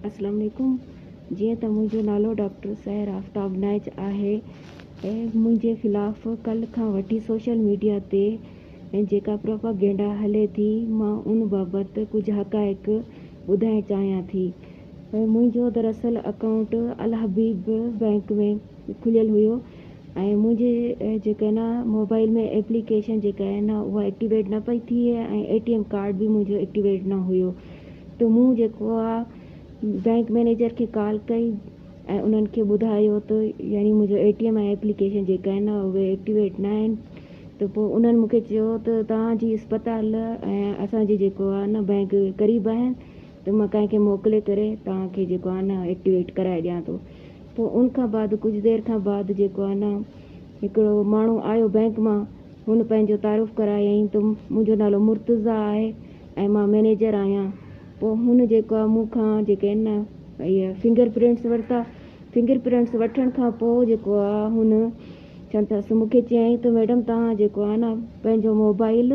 اسلام عليڪم جيئن ته منهنجو نالو ڊاڪٽر سحر آفتاب نائچ آهي ۽ منهنجي خلاف ڪلهه کان وٺي سوشل ميڊيا تي جيڪا پروپاگينڊا هلي ٿي مان ان بابت ڪجهه حقائق ٻڌائڻ چاهيان ٿي منهنجو دراصل اڪائونٽ الحبيب بئنڪ ۾ کليل هيو ۽ منهنجي جيڪا آهي نه موبائل ۾ ايپليڪيشن جيڪا آهي نه اها ايڪٽيويٽ نه پئي ٿئي ۽ اي ٽي ايم ڪارڊ به منهنجو ايڪٽيويٽ نه هيو ته مون جيڪو آ بينڪ مئنيجر کي ڪال ڪئي ۽ انهن کي ٻڌايو ته يعني منهنجو اي ٽي ايم ۽ ايپليڪيشن جيڪا آهي نه اهي ايڪٽيويٽ نه آهن ته پوء انهن مونکي چيو ته توهان جي اسپتال ۽ اسان جي جيڪو آهي نه بينڪ قريب آهن ته مان ڪنهن کي موڪلي ڪري توهان کي جيڪو آهي نه ايڪٽيويٽ ڪرائي ڏيان ٿو پوء ان کان بعد ڪجهه دير کان بعد جيڪو آهي نه هڪڙو ماڻهو آيو بئنڪ مان هن پنهنجو تعارف ڪرايائين ته منهنجو نالو مرتضيٰ آهي ۽ مان مئنيجر آهيان پوء هن جيڪو آهي مون کان جيڪي آهن نه اهي فنگر پرنٽس ورتا فنگر پرنٽس وٺڻ کان پوء جيڪو آهي هن چون ٿا سو مون کي چيائين ته ميڊم توهان جيڪو آهي نه پنهنجو موبائل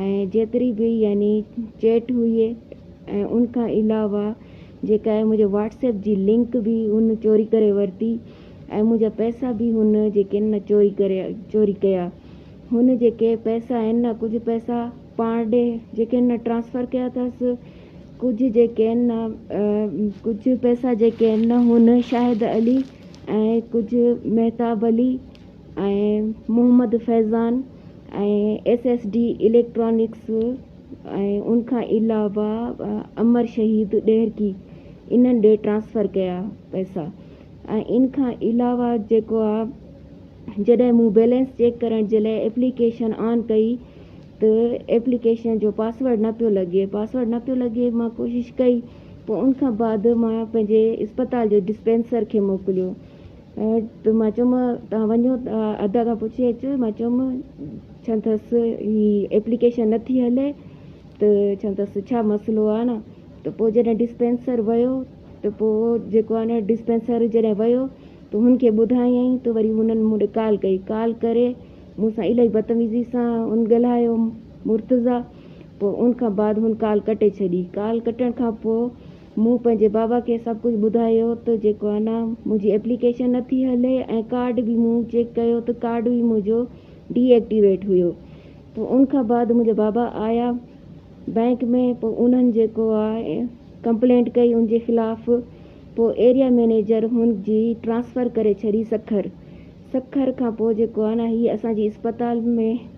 ۽ جيتري به يعني چيٽ هئي ۽ ان کان علاوه جيڪا اهي منهنجي واٽس ايپ جي لنڪ به هن چوري ڪري ورتي ۽ منهنجا پئسا به هن جيڪي آهن نه چوري ڪري چوري ڪيا هن جيڪي پئسا آهن نه ڪجهه پئسا پاڻ ڏي جيڪي آهن نه ٽرانسفر ڪيا اٿس ڪجهه جيڪي آهن نه ڪجهه پئسا جيڪي آهن نه هن شاهد علي ۽ ڪجهه Mahtab Ali Muhammad Faizan ۽ S S D electronics ۽ ان کان علاوه امر شهيد ڏهرڪي انهن ڏي ٽرانسفر ڪيا پئسا ۽ ان کان علاوه جيڪو آ جڏهن مون بيلنس چيڪ ڪرڻ جي لاء ايپليڪيشن آن ڪئي ته ايپليڪيشن جو پاسورڊ نه پيو لڳي پاسورڊ نه پيو لڳي مان ڪوشش ڪئي پوء ان کان بعد مان پنهنجي اسپتال جي ڊسپينسر کي موڪليو مان چيم توهان وڃو ته ادا کان پڇي اچو مان چيم ڇا اٿس هي ايپليڪيشن نٿي هلي ته ڇا اٿس ڇا مسئلو آهي نه ته پوء جڏهن ڊسپينسر ويو ته پوء جيڪو آهي نه ڊسپينسر جڏهن ويو ته هن کي ٻڌايائين ته وري هنن مون ڏي ڪال ڪئي ڪال ڪري مون سان الاهي بدتميزي سان هن ڳالهايو مرتضيٰ پوء ان کان بعد هن ڪال ڪٽي ڇڏي ڪال ڪٽڻ کان پوء مون پنهنجي بابا کي سڀ ڪجهه ٻڌايو ته جيڪو انا منهنجي ايپليڪيشن نه ٿي هلي ۽ ڪارڊ به مون چيڪ ڪيو ته ڪارڊ به منهنجو ڊي ايڪٽيويٽ هيو پوء ان کان بعد منهنجا بابا آيا بئنڪ ۾ پوء انهن جيڪو آ ڪمپلينٽ ڪئي ان جي خلاف پوء ايريا مئنيجر هن جي ٽرانسفر ڪري ڇڏي سکر سکر کان پوء جيڪو آ نه هي اسان جي اسپتال ۾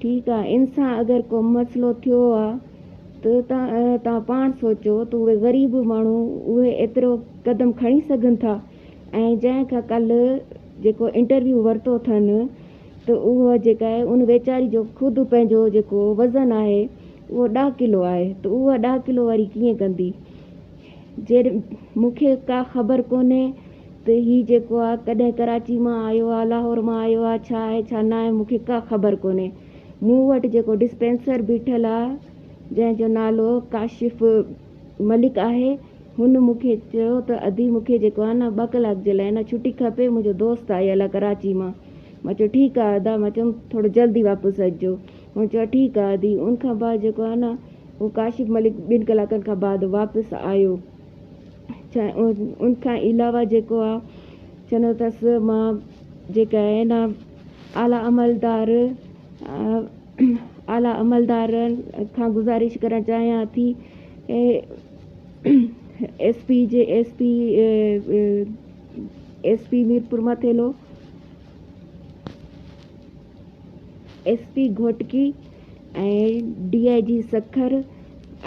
ٺيڪ آ ان سان اگر ڪو مسئلو ٿيو آ ته توهان پاڻ سوچو ته اهي غريب ماڻهو اهي ايترو قدم کڻي سگهن ٿا ۽ جنهن کان ڪلهه جيڪو انٽرويو ورتو اٿن ته اهو جيڪا آهي ان ويچاري جو خود پنهنجو جيڪو وزن آهي اهو ڏهه ڪلو آهي ته اها ڏهه ڪلو واري ڪيئن ڪندي. جيئن مون کي ڪا خبر ڪونهي ته هي جيڪو آ ڪڏهن ڪراچي مان آيو آ لاهور مان آيو آ ڇا آهي ڇا ناهي مون کي ڪا خبر ڪونهي مون وٽ جيڪو ڊسپينسر بيٺل آ جنهن جو نالو ڪاشف ملڪ آهي هن مون کي چيو ته ادي مون کي جيڪو آ نه ٻه ڪلاڪ جي لاء نه ڇٽي کپي منهنجو دوست آيل آ ڪراچي مان مان چيو ٺيڪ آ ادا مان چيم ٿورو جلدي واپس اچجو هن چيو ٺيڪ آ ادي. ان کان بعد جيڪو آ نه هو ڪاشف ملڪ ٻن ڪلاڪن کان بعد واپس آيو ان کان علاوه جيڪو آ چوندو تس مان جيڪي آهي نه اعليٰ عملدار اعليٰ عملدارن کان گذارش ڪرڻ چاهيان ٿي ايس پي جي S P S P Mirpur Mathelo S P Ghotki ۽ D I G Sukkur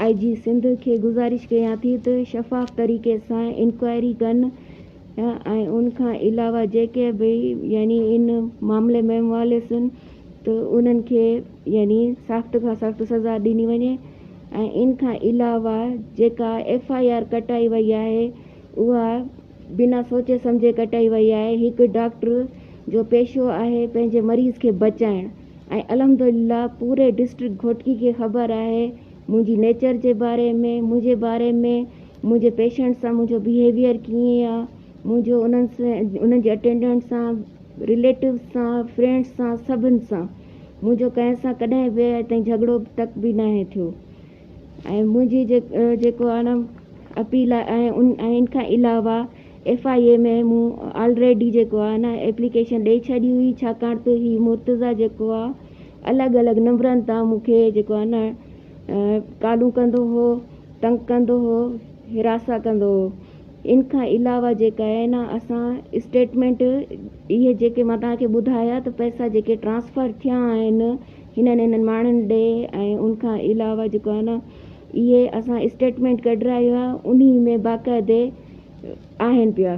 I G Sindh کي گذارش ڪيان ٿي ته شفاف طريقي سان انڪوائري ڪن ۽ ان کان علاوه جيڪي به يعني ان معاملي ۾ ملوثن ته انهن کي يعني سخت کان سخت سزا ڏني وڃي ۽ ان کان علاوه جيڪا ايف آء آر ڪٽائي وئي آهي اها بنا سوچي سمجهي ڪٽائي وئي آهي، هڪ ڊاڪٽر جو پيشو آهي پنهنجي مريض کي بچائڻ ۽ الحمدلله پوري ڊسٽرڪٽ گهوٽڪي کي خبر آهي منهنجي نيچر جي باري ۾ منهنجي باري ۾ منهنجي پيشنٽ سان منهنجو بيهيويئر ڪيئن آ منهنجو انهن سان انهن جي اٽينڊنٽ سان رليٽوز سان فرينڊس سان سڀن سان منهنجو ڪنهن سان ڪڏهن به اڄ تائين جهڳڙو تڪ به ناهي ٿيو. ۽ منهنجي جيڪو اڻ اپيل آهي ۽ ان کان علاوه ايف آء اي ۾ مون آلريڊي جيڪو آهي نه ايپليڪيشن ڏئي ڇڏي هئي ڇاڪاڻ ته هي مرتضيٰ جيڪو آهي الڳ الڳ نمبرن تان مون کي جيڪو آهي نه ڪالون ڪندو هو تنگ ڪندو هو هراسا ڪندو هو ان کان علاوه جيڪا آهي نه اسان اسٽيٽمينٽ اهي جيڪي مان تهان کي ٻڌايا ته پئسا جيڪي ٽرانسفر ٿيا آهن هنن انهن ماڻهن ڏي ۽ ان کان علاوه جيڪو آهي نه اهي اسان اسٽيٽمينٽ ڪڍرايو آهي انهي ۾ باقاعدي آهن پيا.